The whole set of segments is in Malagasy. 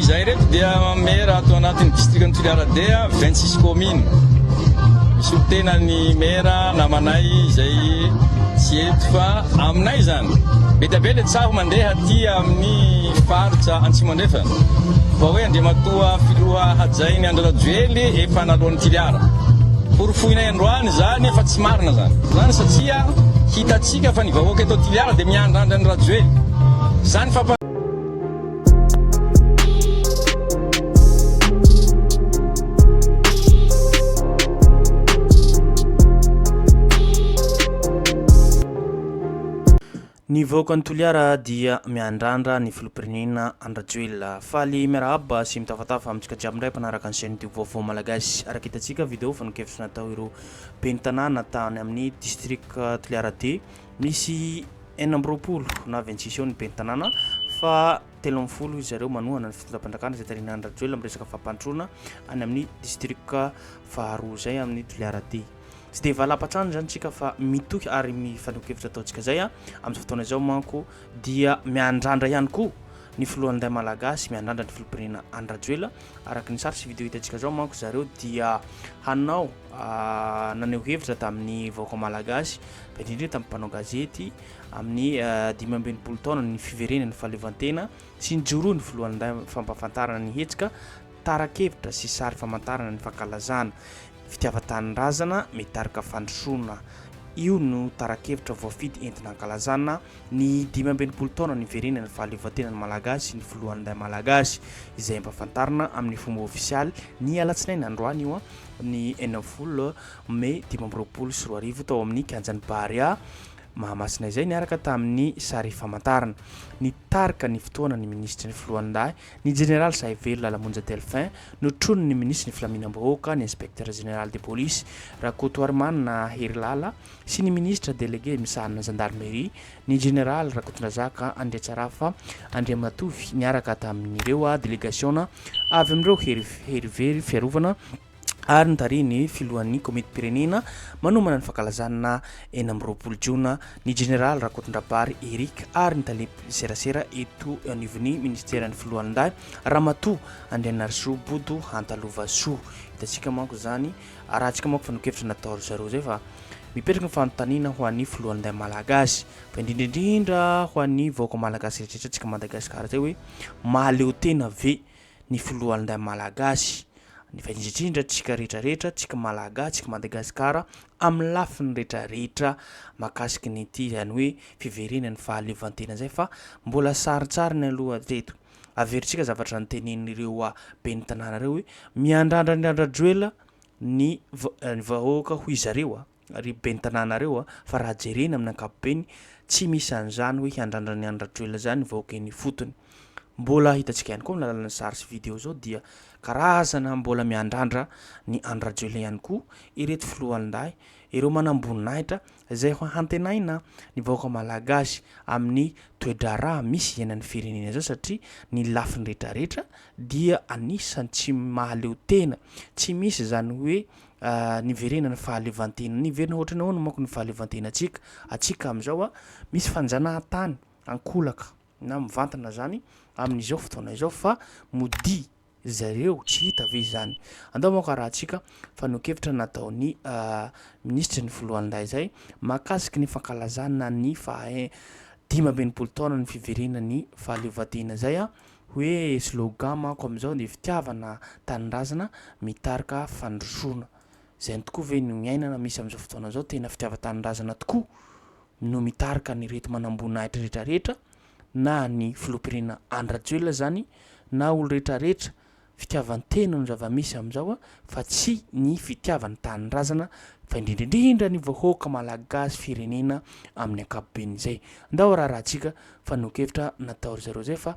Izahay ireto dia Mera ato anatin'ny Distrikan'i Toliara-D, vingt-six communes. Misolo tena ny Mera namanay izay tsy eto fa aminay izany. Be dia be ilay tsaho mandeha aty amin'ny faritra Antsimo Andrefana fa hoe Andriamatoa Filoha hajain'i Andry Rajoely efa naloan'i Tiliara. Porofoinay androany izany fa tsy marina izany. Izany satria hitantsika fa ny vahoaka eto Tiliara dia miandrandra an'i Rajoely. Izany fampa. Ny vahoakan'i Toliara dia miandrandra ny filoham-pirenena Andry Rajoelina. Faly miarahaba sy mitafatafa amintsika jiaby indray mpanaraka ny chaîne Tube Vaovao Malagasy. Araka hitantsika video fanehoan-kevitra natao ireo ben'ny tanàna tany amin'ny district Toliara D Misy enina amby roapolo na vingt six eo ny ben'ny tanàna fa telo ambin'ny folo izy zareo manohana ny fitondram-panjakana izay tarihin'i Andry Rajoelina amin'ny resaka fampandrosoana any amin'ny distrika faharoa izay amin'ny Toliara D. Tsy dia valam-patrana izany tsika fa mitohy ary mifaneho-kevitra ataontsika izay a. Amin'izao fotoana izao manko dia miandrandra ihany koa ny filohan'ny Ray Malagasy, miandrandra ny filoham-pirenena Andry Rajoelina. Araka ny sary sy video hitantsika izao manko zareo dia hanao naneho hevitra tamin'ny vahoaka malagasy, fa indrindra tamin'ny mpanao gazety amin'ny dimy amby enimpolo taona ny fiverenan'ny fahaleovantena sy ny joroa ny filohan'ny fampahafantarana ny hetsika tara-kevitra sy sary famantarana ny fankalazana fitiavan-tanindrazana mitarika fandrosoana. Io no tara-kevitra voafidy entina hankalazana ny dimy amby enimpolo taona niverenan'ny fahaleovantenan'ny malagasy sy ny filohan'ny malagasy, izay ampahafantarina amin'ny fomba ofisialy ny alatsinainy androany io an. ny enina ambin'ny folo mey dimy amby roapolo sy roa arivo tao amin'ny kianjan'ny Barea Mahamasina izay niaraka tamin'ny sary famantarana. Nitarika ny fotoana ny minisitry ny Filohandahy, ny jeneraly Sahivelo Lalamonja Delphin, notronin'ny minisitry ny Filaminam-bahoaka, ny inspektera jeneraly de polisy, Rakotoarimanana Herilala, sy ny Minisitra Delege misahana ny Zandarmeria, ny Jeneraly Rakotondrazaka Andriatsarafa Andriamatovy niaraka tamin'ireo delegasiona avy amin'ireo hery very fiarovana ary notarihin'ny Filohan'ny Komitim-pirenena manomana ny fankalazana enina amby roapolo jona ny Jeneraly Rakotondrabary Eric ary ny Tale serasera eto anivon'ny Minisiteran'ny Filohalindahy Ramatoa Andrianarisoa Bodo Hantalovasoa. Hitantsika manko izany Arahantsika manko fa nokevitra natao ry zareo zay fa mipetraka ny fanontaniana ho an'ny filohan'ny lay Malagasy fa indrindra indrindra ho an'ny vahoaka Malagasy rehetra antsika Madagasikara zay hoe mahaleo tena ve ny filohan'ny lay Malagasy ny fa indrindra indrindra antsika rehetra rehetra antsika Malagasy antsika Madagasikara amin'ny lafiny rehetra rehetra makasiky ny ity izany hoe fiverenan'ny fahaleovantena zay fa mbola sarintsariny aloha hatreto. Averintsika zavatra notenenin'ireo ben'ny tanàna ireo hoe miandrandra ny randra-droela ny vahoaka hoy zareo, ry ben'ny tanàna ireo a, fa raha jerena amin'ny ankapobeny tsy misy an'izany hoe hiandrandra ny randra-droela izany ny vahoaka eny ifotony. Mbola hitantsika ihany koa amin'ny alalan'ny sary sy video izao dia karazana mbola miandrandra ny andra-droela ihany koa ireto filohandahy, ireo manamboninahitra izay ho hantenaina ny vahoaka malagasy amin'ny toe-draharaha misy iainan'ny firenena izao satria ny lafiny rehetra rehetra dia anisan'ny tsy mahaleo tena, tsy misy izany hoe niverena ny fahaleovantena, niverina ohatrany ahoana manko ny fahaleovantenantsika, antsika amin'izao misy fanjanahantany ankolaka. na mivantana zany amin'izao fotoana izao fa modia zareo tsy hita ve izany andao manko arahantsika fanokevitra nataon'ny minisitry ny filohandahy izay makasiky ny fankalazana ny faha dimy amby enimpolo taona ny fiverena ny fahaleovantena izay a hoe slogan manko amin'izao ny fitiavana tanindrazana mitarika fandrosoana izay tokoa ve ny miainana misy amin'izao fotoana izao tena fitiava-tanindrazana tokoa no mitarika an'ireto manamboninahitra retraretra na ny filoham-pirenena Andry Rajoelina zany na olo retraretra fitiavantena no zavamisy amizao a fa tsy ny fitiavany tanindrazana fa indrindrindrindra ny vahoaka malagasy firenena amin'ny ankapobeny zay ndao ararahantsika fa nokevitra natao ry zareo zay fa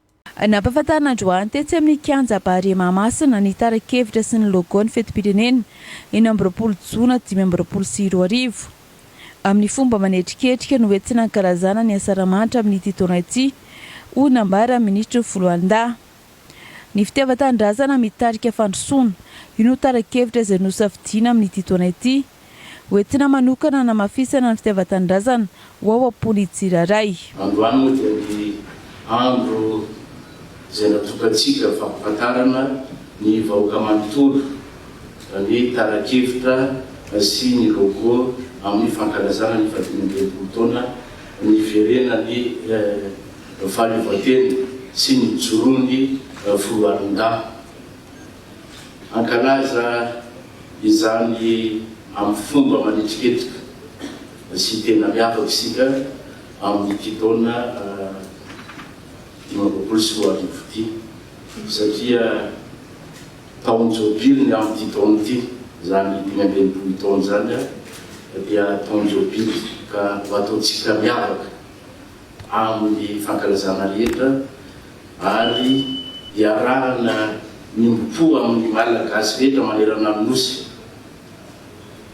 Nampahafantarina androany tetsy amin'ny Kianja Barea Mahamasina ny tara-kevitra sy ny logo-n'ny fetim-pirenena enina amby roapolo jona dimy amby roapolo sy roa arivo. Amin'ny fomba manetriketrika no hoentina hankalazana ny Asaramanitra amin'ity taona ity, hoy nambaran'ny minisitry ny Foloalindahy. Ny fitiavan-tanindrazana mitarika fandrosoana, io no tara-kevitra izay nosafidiana amin'ity taona ity. Ho entina manokana hanamafisana ny fitiavan-tanindrazana ho ao am-pon'ny tsirairay. Androany moa dia ny andro izay natokantsika fampahafantarana ny vahoaka manontolo ny tara-kevitra sy ny logo amin'ny fankalazana ny fahadimy amby enimpolo taona niverenan'ny fahaleovantena sy nijoroan'ny foloalindahy. Hankalaza izany amin'ny fomba manetriketrika sy tena miavaka isika amin'ity taona dimy amby roapolo sy roa arivo ity, satria taon-jobily ny amin'ity taona ity, izany dimy amby enimpolo taona izany dia taon-jobily ka ho ataontsika miavaka amin'ny fankalazana rehetra ary iarahana miombom-po amin'ny Malagasy rehetra manerana ny Nosy.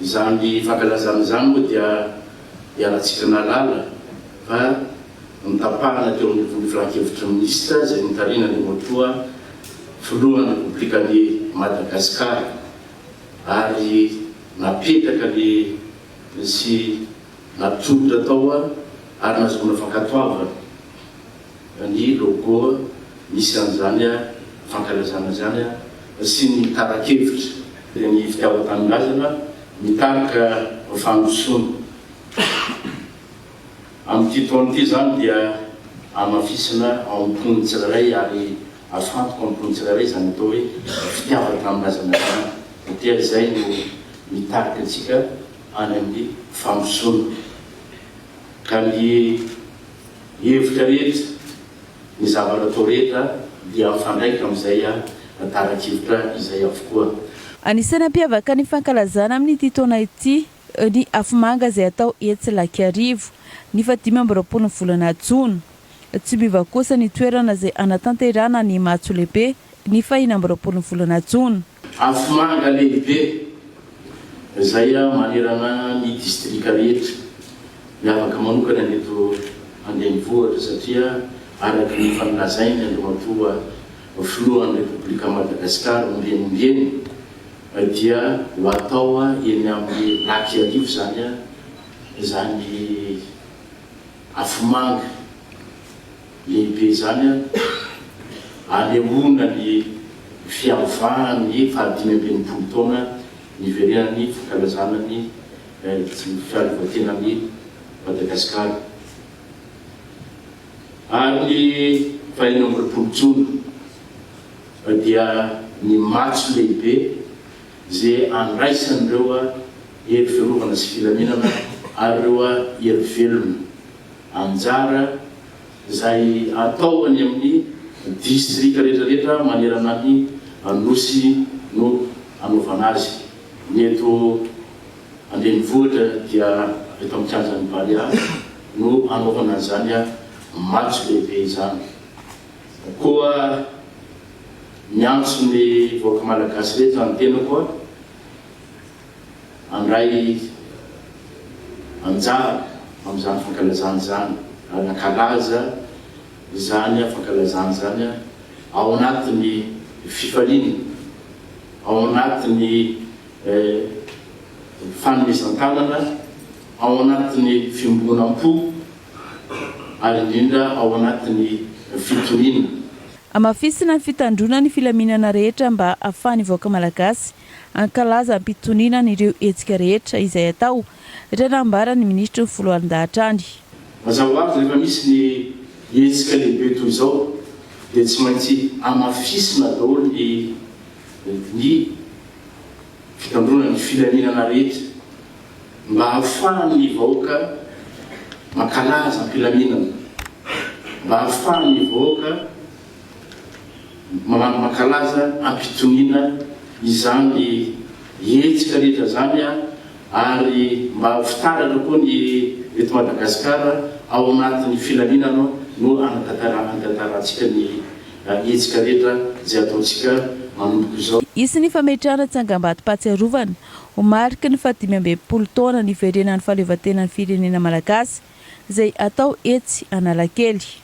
Izany fankalazana izany moa dia iarahantsika nahalala fa notapahana teo amin'ny Boky Filan-kevitry ny Minisitra izay notarihina an'i Ramotoa Filohan'ny Repoblikan'i Madagasikara ary napetraka sy natolotra tao ary nahazoana fankatoavana. ny logo misy an'izany fankalazana izany sy ny tara-kevitra. Dia ny fitiavan-tanindrazana mitarika fandrosoana. Amin'ity taona ity izany dia hamafisina ao amin'ny mponina tsirairay ary hafantoka amin'ny mponina tsirairay izany atao hoe fitiavan-tanindrazana izany satria izay no mitarika antsika any amin'ny fandrosoana. Ka ny. Ny hevitra rehetra, ny zavatra atao rehetra dia mifandraika amin'izay tarak'hevitra izay avokoa. Anisan'ny hampiavaka ny fankalazana amin'ity taona ity ny afomanga izay atao etsy Ilakiharivo, ny fahadimy amby roapolo ny volana jona. Tsy miova kosa ny toerana izay hanatanterahana ny matso lehibe ny fahiny amby roapolo ny volana jona. Afomanga lehibe izay manerana ny distrika rehetra, miavaka manokana ny eto an-drenivohitra satria araka ny efa nolazainy Andriamatoa Filohan'ny Repoblikan'i Madagasikara ombieniombieny dia ho atao eny amin'ny Lac Iarivo izany izany afomanga. Lehibe izany an! Anehoana ny fiavahan'ny fahadimy amby enimpolo taona niverenan'ny fankalazana ny fiarovan-tenan'i Madagasikara. Ary ny fahenina amby roapolo jona dia ny matso lehibe izay andraisan'ireo hery fiarovana sy filaminana ary ireo hery velona. Anjara izay atao any amin'ny distrika rehetrarehetra manerana ny Nosy no anaovana azy. Ny eto an-drenivohitra dia eto amin'ny kianjan'ny Barea no anaovana an'izany matso lehibe izany. Koa miantso ny vahoaka malagasy rehetra ny tenako. handray anjara amin'izany fankalazana izany ary hankalaza izany fankalazana izany ao anatin'ny fifaliana, ao anatin'ny fanomezan-tanana, ao anatin'ny fiombonam-po ary indrindra ao anatin'ny fitoniana. Hamafisina ny fitandroana ny filaminana rehetra mba hahafahan'ny vahoaka malagasy hankalaza am-pitoniana an'ireo hetsika rehetra izay atao, raha nambaran'ny minisitry ny foloalindahatr any. Mazava ho azy, rehefa misy ny hetsika lehibe toy izao dia tsy maintsy hamafisina daholo ny ny fitandroana ny filaminana rehetra mba hahafahan'ny vahoaka mankalaza am-pilaminana, mba hahafahan'ny vahoaka. Mamangy mankalaza ampitoniana izany hetsika rehetra izany ary mba ho fitaratra koa ny eto Madagascar ao anatin'ny filaminana no anatantarahantsika ny hetsika rehetra izay ataontsika manomboka izao. Hisy ny fametrahana tsangambatom-pahatsiarovana ho mariky ny fahadimy amby enimpolo taona niverenan'ny fahaleovantenan'ny firenena malagasy izay hatao etsy Analakely.